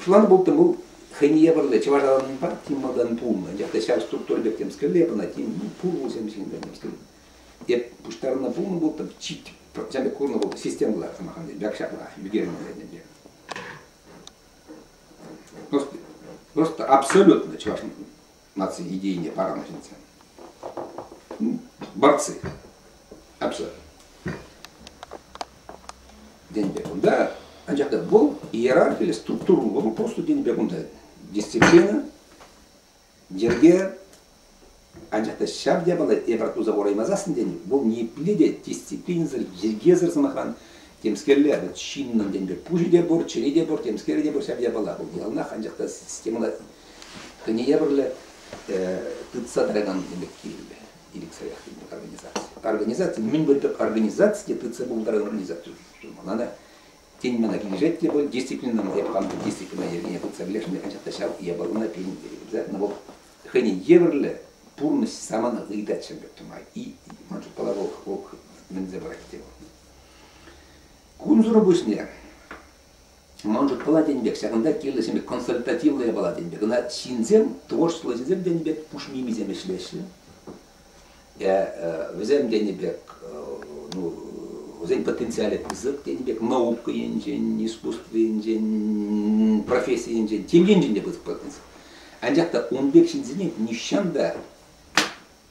Фланг бултӑм вӑл хӑйне евӗрлӗ чӑвашранпа тем малтан пулнӑ. Анчах та ҫав структура пек темскерле пынӑ, тем ну, пулӑсем ҫынсем ӗҫтернӗ. Эп пуҫтарнӑ пулнӑ бултӑм чит пӑртисем пек курнӑ вӑл системӑлар сӑмахран бякшаклах ӳкернӗ ӗнтӗ. Просто абсолютно чӑваш наци идейине паранӑ ҫынсем. Борцы обязательно. Деньги кунда, анчах та был иерархия или структура, был просто деньги кунда. Дисциплина, дерге, анчах та ҫав япала эпир туса ораймасассың тени, бұл непле те дисциплинсӑр йӗркесӗр сӑмахран темскерле, вот чиннӑн деньги пуҫы те пур, чӗри те пур, темскері те пур, ҫав япала бұл яланах анчах та системада Кӗнеевӗрлӗ тытса тӑракан ӗмӗт кирлӗ ирӗксӗрех организаци. Организаци мӗн пуль тӑк организаци те тытса пултаракан организаци мана та тен мана килӗшет те пуль дисциплина эп хам дисциплина йӗркене тытса пӗлесшӗн анчах та ҫав япалана пирӗн терӗ но вот хӑйне евӗрлӗ пурнӑҫ самана ыйтать ҫӗмпӗр тума и ман шутпала вӑл вӑл мӗнсе пырать те вӑл кунсӑр пуҫне Ман шутпала тен пек, ҫакӑнта кирлисемпе консультативлӑ япала тен пек. Кӑна ҫынсем, творчество ӗҫӗсем тенӗ пек пуш мимисем ӗҫлеҫҫӗ. Э, вӗсем тенӗ пек, ну, вӗсен потенциалӗ пысӑк тенӗ пек наука енчен, искусство енчен, професси енчен, тем енчен те пысӑк потенциал. Анчах та ун пек ҫынсене нихҫан та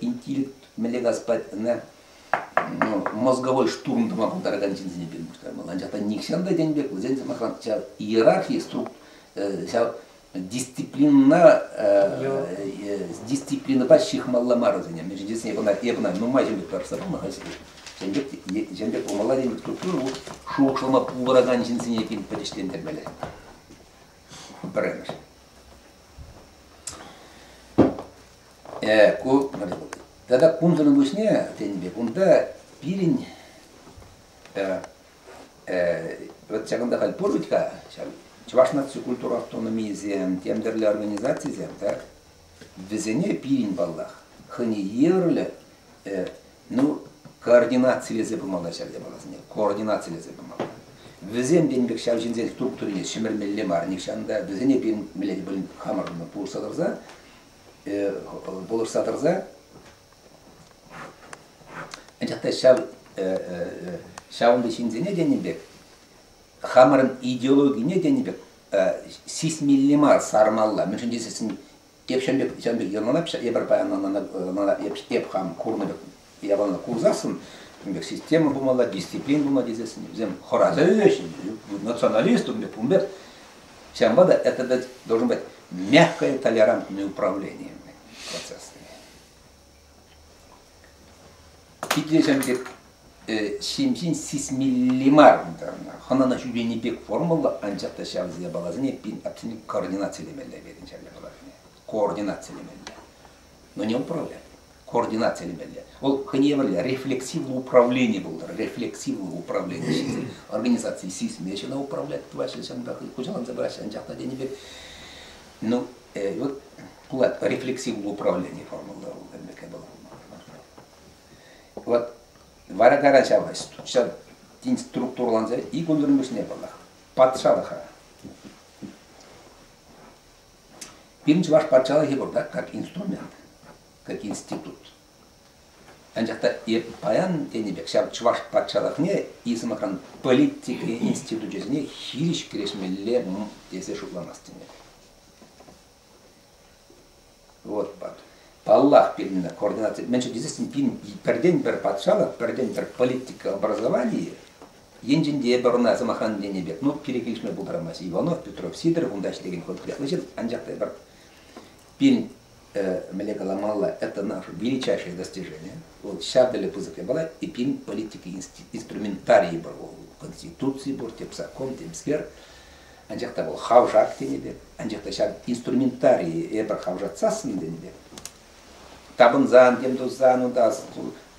интеллект мӗнле газ пать ӑна ну, мозговой штурм тума пултаракан ҫынсене пирӗн пуҫтармалла. Анчах та нихҫан та тен пек, вӗсен сӑмахран ҫав иерархия струк ҫав дисциплинӑна дисциплинӑпа ҫыхмалла мар вӗсене. Мӗн чухлӗ эпӗ ӑна нумай ҫын пек парса пулнӑ-ха ҫын пек ҫын пек пулмалла теймӗн структура ку шухӑшлама пултаракан ҫынсене пирӗн пӗтӗҫлентермелле. Пӗрремӗш. Э, ку мӗн вӑл? Тата кунсӑрӑн пуҫне, тенӗ пек, унта пирӗн э, э, вот ҫакӑнта халь пур вӗт-ха ҫав чӑваш наци культура автономийӗсем, тем тӗрлӗ организацисем, так? Вӗсене пирӗн, паллах, хӑйне евӗрлӗ, э, ну, координацилесе пымалла ҫав япаласене, координацилесе пымалла. Вӗсем тенӗ пек ҫав ҫынсен структурине ҫӗмӗрмелле мар нихҫан та, вӗсене пирӗн мӗнле те пулин хамӑр пурса тӑрса пулӑшса тӑрса анчах та ҫав ҫавӑнти ҫынсене тенӗ пек хамӑрӑн идеологине тенӗ пек сисмелле мар сармалла мӗншӗн тесессӗн эп ҫавӑн пек ҫавӑн пек йӑлана эпӗ паян мана эп хам курнӑ пек Явана курсассӑн ун пек система пулмалла, дисциплина пулма тесессӗн вӗсем хӑраса националист ун пек ун пек ҫавӑнпа та это дать должен быть мягкое толерантное управление процессами. Итлесен пек ҫемҫен сисмелли мар хӑнана ҫӳрени пек формулла, анчах та ҫав япаласене пин абсолют координацилемелле пирӗн ҫав япаласене. Координацилемелле. Но не управлять. координаци элементӗ. Вӑл хӑйне евӗрлӗ рефлексивлӑ управлени пултӑр, рефлексивлӑ управлени ҫисе организаци сисме ҫӑна управлять тӑваҫҫӗ ҫынпа хуҫаланса пыраҫҫӗ анчах та тенӗ пек ну вот пулать рефлексивлӑ управлени формулӑра вӑл темле вӑл вот вара кара ҫавӑсть ҫав тин структураланса икӗ ӳлӗрмӗшне паллах патшалӑха Пирӗн чӑваш патшалӑхӗ пуртах как инструмент, как институт. Анчах та паян тенӗ пек ҫав чӑваш патшалӑхне и сӑмахран политика институчӗсене хирӗҫ кӗрешмелле тесе шутламастӑн. Вот пат. Паллах, пирӗн координация. Мен что пирӗн пирден пӗр патшалӑх, пӗрден пӗр политика образования Енчен те эпӗ ӑна, сӑмахран, тенӗ пек, ну, кирек килӗшме пултарамасть. Иванов, Петров, Сидоров унта ӗҫлекен хӑвӑрт кӑтартнӑ ҫын, анчах та эпир пирӗн, э, мӗнле каламалла, это наше величайшее достижение. Вӑл ҫав тӗле пысӑк япала и пин политики инструментарии пур вӑл Конституци пур, тем закон, тем сквер. Анчах та вӑл хавшак тенӗ пек, анчах та ҫав инструментарии эпир хавшатсассӑн тенӗ пек, тапӑнсан тем тусан унта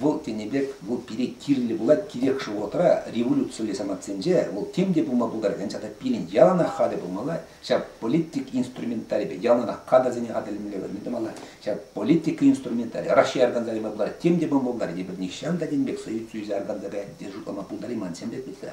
вӑл тенӗ пек вӑл пире кирлӗ пулать кирек шо вӑхӑтра революцилле самантсенче вӑл тем те пулма пултаракан чата пирӗн яланах хатӗр пулмалла ҫав политик инструменталӗпе яланах кадрсене хатӗрлемелле мӗн тумалла ҫав политика инструменталӗ Раҫҫей арканса кайма пултарать тем те пулма пултарать эпир нихҫан та тем пек союз союза арканса каян те шутлама пултарайман ҫын пек пулса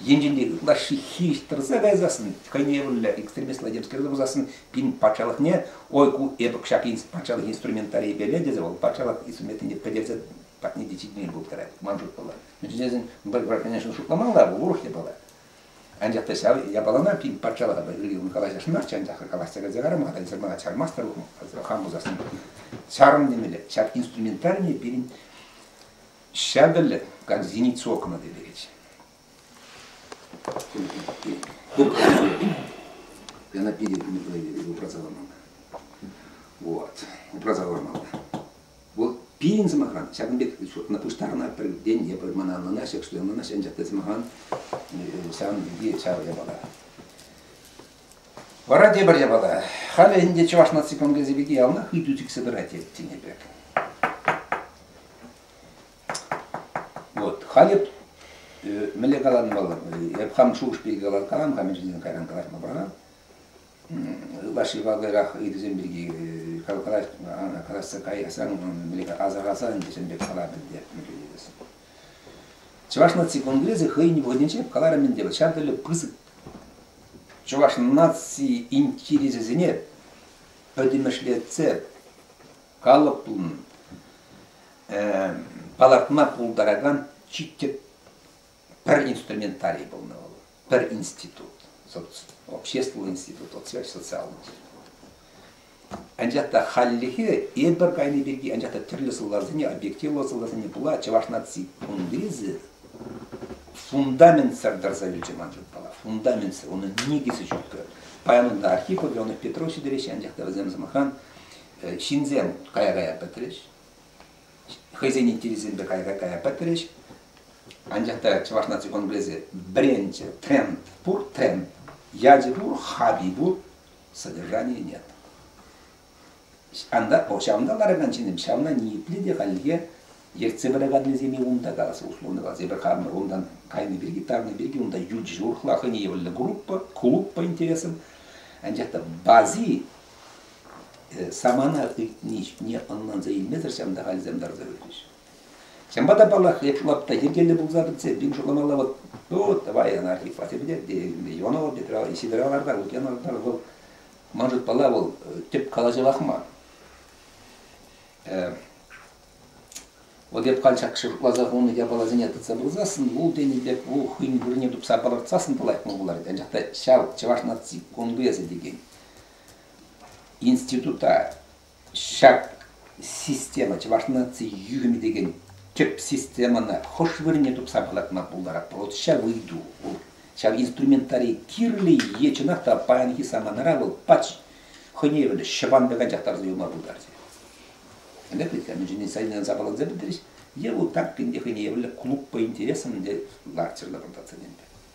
Енчен ытлашши хистӗрсе кайсассӑн, хӑйневӗллӗ экстремистла-темскерсе пырсассӑн, пин патшалӑхне, ой, ку эпӗ ҫак патшалӑх инструментарийӗпеле тесе вӑл патшалӑх инструментне пӗтерсе патне те ҫитмен пултарать, ман шутпала. Ну, тесен, пӗр гражданиншӑн шутламалла вӑл, урӑх япала. Анчах та ҫав япалана пин патшалӑха ырӑ калаҫасшӑн марччӗ, анчах калаҫса кайса карама-ха, эсир мана чармастӑр, хам пулсассӑн. Чарӑм темелле. Ҫак инструментарийне пирӗн Ҫатӑлӗ как зеницу окна тетӗкӗч. Она пире упраса ламана. Вот, упраса ламана. Вӑл пирӗн сӑмахран ҫакӑн пек на пуҫтарна пӗрденне мана ӑнлана ҫак что ӑнлана ҫан ҫакта сӑмахран ҫавӑн пирки ҫавӑ япала. Вара тепӗр япала, халӗ ӗнтӗ чӑваш наци конгресӗ пирки яланах ыйту сиксе тӑрать тенӗ пек. Вот, халӗ мӗнле каланӑ вӑл, эп хам шухӑш пирки калам-ха, мӗн чухне кайран калаҫма пӑрах. Лашипа кайрах ыйтусем пирки калаҫса каясаң, асӑрхасан ӗнтӗ, сен пек калам ӗнтӗ, Чӑваш наци конгресӗ хӑйӗн вӑхӑтӗнче каларӑм ӗнтӗ ҫав тӗллӗ пысӑк чӑваш наци интересӗсене пӗтӗмӗшлетсе калӑп пулнӑ, палӑртма пултаракан чи тӗп пӗр инструментарий пулнӑ вӑл. пӗр институт, общественный институт вот связь социалный. Анчах та хальлӗхе эпир кайни пирки анчах та тӗрлӗ сӑлтавсене, объективлӑ сӑлтавсене пула чӑваш наци кунгресӗ фундаментсӑр тӑрса вилчӗ ман шутпала. Фундаментсӑр, унӑн никӗсӗ ҫуккӑ. Паян Архип Леонов Петров ҫитереҫҫӗ, анчах та вӗсем, сӑмахран, ҫынсем кая-кая пӗтрӗҫ, хӑйсен интересӗсемпе кая-кая пӗтрӗҫ, Анчах та Чӑваш наци конгресӗ бренчӗ, тренд пур тренд. Ячӗ пур, хави пур, содержания нет. Анда, ҫавӑнта ларакан ҫынсем ҫавна ниепле те хальлӗхе ертсе пыраканнисене унта калас условно калас. Эпир хамӑр унтан кайнӑ пирки, тарнӑ пирки унта ют ҫурхла хӑйне явлнӑ группа, клуб по интересам. Анчах та бази самана ыйтни ҫине ӑнланса илмесӗр ҫавӑнта халӗсем тӑрса юлчӗҫ. Ҫавӑнпа та, паллах, эпир лапта йӗркеллӗ пулса пӗтсе пин шутламалла вот, ну, давай анархи хватит Леонова Петра Сидоровларта, Лукьяновлар вӑл, ман шутпала, вӑл тӗп калаҫӑвах мар. Вот эп каль ҫакӑ шутласа хунӑ япаласене тытса пырсассӑн, вул тенӗ пек вул хӑйӗн вырӑнне тупса палӑртсассӑн та лайӑх мар пулать. Анчах та ҫав чӑваш наци конгресӗ текен института Ҫак система Чӑваш наци юхӑмӗ текен тӗп системӑна хӑш вырӑнне тупса палӑртма пултарать, Промҫа выйту вӑл. Ҫав инструментари кирлӗ е чӑнах та паянхи саманара вӑл пач хӑйне евӗрлӗ ҫӑванпек анчах тарса юлма пултарчӗ. Ӗнтӗ хыйтка мӗншӗн сайнанса апатланса пӗтрӗҫ, е вӑл тапкин те хӑйне евӗрлӗ клуб по интересам те ларчӗ лӑпӑлтатса темпе.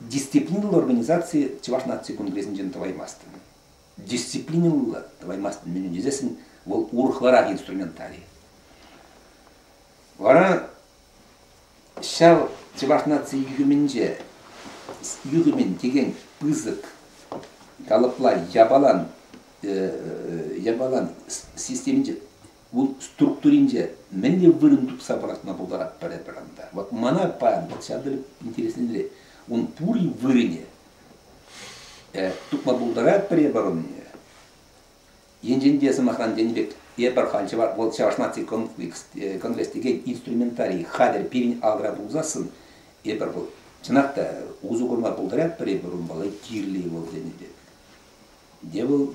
Дисциплинлӑ организаци Чӑваш наци конгресӗнчен тӑваймастӑн. Дисциплинлӑ тӑваймастӑн мӗншӗн тесессӗн вӑл урӑхларах инструментарий. Вара ҫав чӑваш наци юхӑмӗнче юхӑмӗн текен пысӑк калӑпла япалан япалан системинче Вут структуринче мӗн те вырӑн тупса пӑрахма пултарать пӗр-пӗр ӑнта. Вот мана паян вот ҫав тери интересленре. Ун пури вырӑнӗ э, тупма пултарать пӗр эпӗр унне. Енчен те, сӑмахран, тенӗ пек, эпӗр халь чӑваш, вӑл чӑваш наци конгресс текен инструментарий хатӗр пирӗн алра пулсассӑн, эпӗр вӑл, чӑнах та, усӑ курма пултарать пӗр эпӗр ун валли, кирли вӑл тенӗ пек. Те вӑл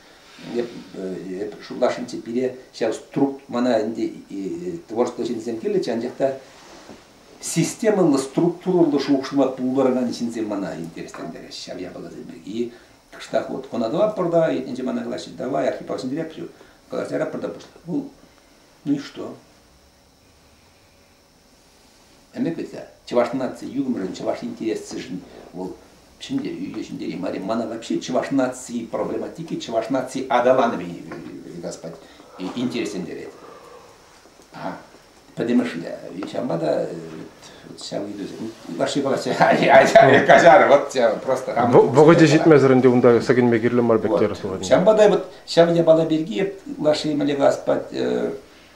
эп шутласшӑнччӗ пире ҫав струк мана ӗнтӗ творчество ҫынсем кирлӗччӗ анчах та системӑллӑ структурӑллӑ шухӑшма пултаракан ҫынсем мана интереслентереҫҫӗ ҫав япаласем пирки кӑштах вот кӑнатӑлатпӑр та иртнинче мана калаҫҫӗ давай архипа сӗнтереп все калаҫаратпӑр та пуҫлап вӑл ну и что Ӗмӗт вӗт-ха, чӑваш наци юхӑмӗшӗн, чӑваш интересӗшӗн вӑл ҫӗнтерӳ ҫӗнтерӳ мар. Мана вообще чӑваш наци проблематики, чӑваш наци аталанӑвӗ, господь, интереслентерет. А, пӗтӗмӗшле. Ҫавӑнпа та ҫав ыйтусем ваши палаҫа каҫар вот просто вӑхӑчӗ ҫитмесӗр ӗнтӗ унта сӗкӗнме кирлӗ мар пек терӗ Ҫавӑнпа та вот ҫав япала пирки лаши мӗле господь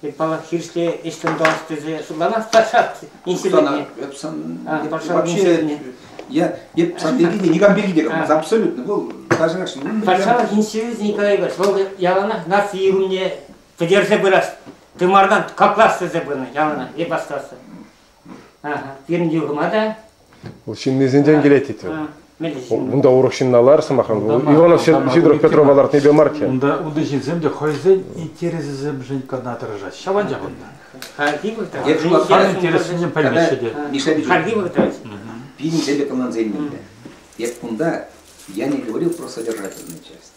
Тек паллах хирӗҫле ӗҫлӗм тӑвас тесе шутланас та ҫак инсидентне. Эп сан вообще я эп сан пирки никам пирки те говорю абсолютно бұл даже патшалык институты Николай Егорович вӑл яланах наци ирумне пӗтерсе пырас тымардан каклас тесе пынӑ яланах эп астасы пирӗн юхӑма та Вӑл ҫыннисенчен килет тет вӑл. Унта урӑх ҫынна лар, сӑмахран, Иванов Сидоров Петрова лартнипе мар-тӗ. Унта унти ҫынсем те хӑйсен интересӗсемшӗн кӑна тӑрӑшаҫҫӗ. Ҫаванчах унта. Хальхи вӑхӑта интерессене пӗлмеҫҫӗ те. Хальхи вӑхӑта пирӗн тӗллӗ командсем мӗнле? Эп кунта, я не говорил про содержательную часть.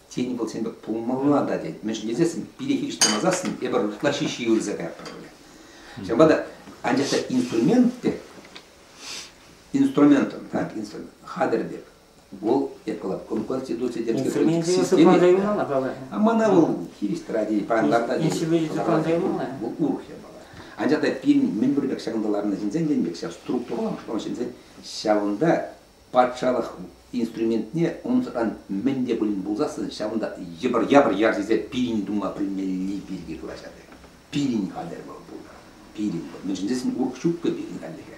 Тен, вӑл сен пек пулмалла та, тет. Мӗншӗн тесессӗн пире хирӗҫ тӑмасассӑн эпир ытла ҫиҫи ырса каятпӑр пулӗ. Ҫавӑнпа та анчах та инструмент те инструментӑн, да, инструмент, хатӗр пек, вӑл эпла конституци йӗрке системи. А мана вӑл хирӗҫ тӑрать, парӑнтарта. Если бы Вӑл урӑх япала. Анчах та пирӗн мӗн пур пек ҫакӑнта ларнӑ ҫынсен, тен пек ҫав структурӑлла, ҫавӑнта Патшалӑх инструментне унсӑран мӗн те пулин пулсассӑн ҫавӑнта йӑпӑр-япӑр ярсесе пирӗн тума пӗлмелли пирки калаҫать. Пирӗн хатӗр вӑл пулнӑ. Пирӗн вӑл. Мӗншӗн тесен урӑх ҫук-ҫке пирӗн хальлӗхе.